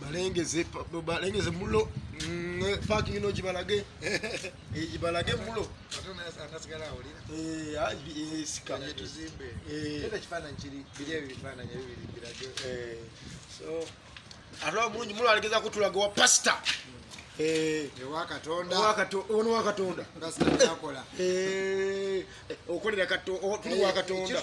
balengeze balengeze mulo mm, eh, parking ino jibalage eh, jibalage mulo eh, ah, ate mulungi mulo alegeza kutulaga wa pasita ono wakatonda okolera tuli wakatonda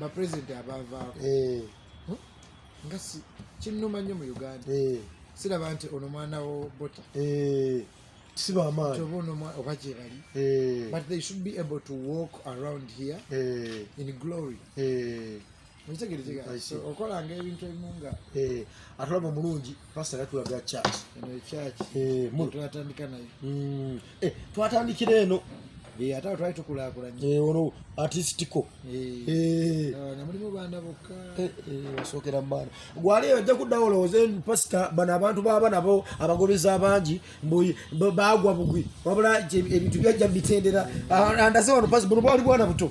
bapulezidenti abavaako eh. hmm? nga kinnuma nnyo mu uganda eh. siraba nti ono mwana wo bota eh. oba gyebali but they should be able to walk around here in glory okolanga ebintu ebimu nga eh, atulaba omulungi pasita yatulaga church eh, twatandika nayo hmm. eh, twatandikira eno ate awo twali tukulakulanyiono artistico namulimu baana bokka osookera mubaana gwali ojja kuddawo olowooze pasita bano abantu baba nabo abagobeza abangi bagwa bugwi wabula ebintu byajja mubitendera andaze wano pasi buno bwali bwana buto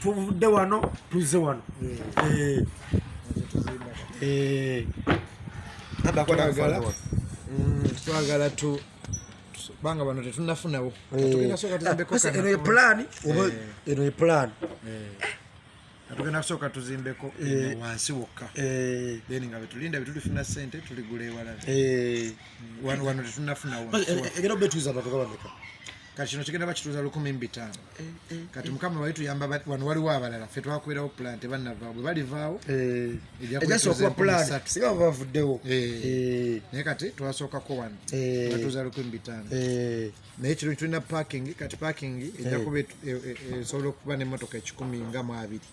tuvudde wano tuzze wano eh. Eh. Mm, twagala tu banga bano tetunafunawo eh. eno ye pulaani eno ye pulaani tugenda kusooka tuzimbeko eh, wansi wokka eh. then nga betulinda betulifuna sente tuligula ewalala eh. wano wano tetunafunawo era obetuiza batoka bameka kati kino kigenda bakituuza lukumi mu bitaano eh, eh, kati eh. mukama wali tuyamba wano waliwo abalala fe twakubirawo plan tebanavaawo bwe balivaawo ejakubasinga bavuddewo naye kati twasookako wano batuuza lukumi mu bitaano naye kino tulina parking kati parking ejakuba esobola okuba nemotoka ekikumi nga mu abiri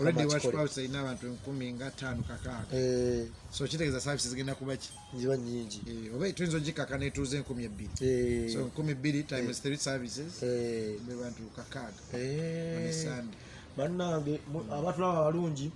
already watu kwa sasa ina watu 10 nga 5 kaka eh so chite za services zigenda kuba ki ziba nyingi eh obe twinzo jika kana tuze 12 eh so 12 times 3 eh. services eh be bantu kaka eh understand banna be abatu laba balungi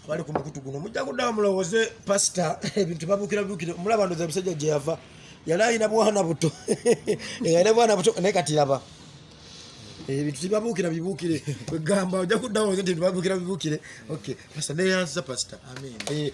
bali ku mukutu guno mujja kuddamu mulowooze pasita ebintu babukira bukira mulaba ndoza bisajja gye yava yali alina bwana buto nga alina bwana buto naye kati laba ebintu eh, tibabuukira bibuukire kwegamba ojja kuddawo nti bibuukira bibuukire ok pasita neyanziza pasita eh,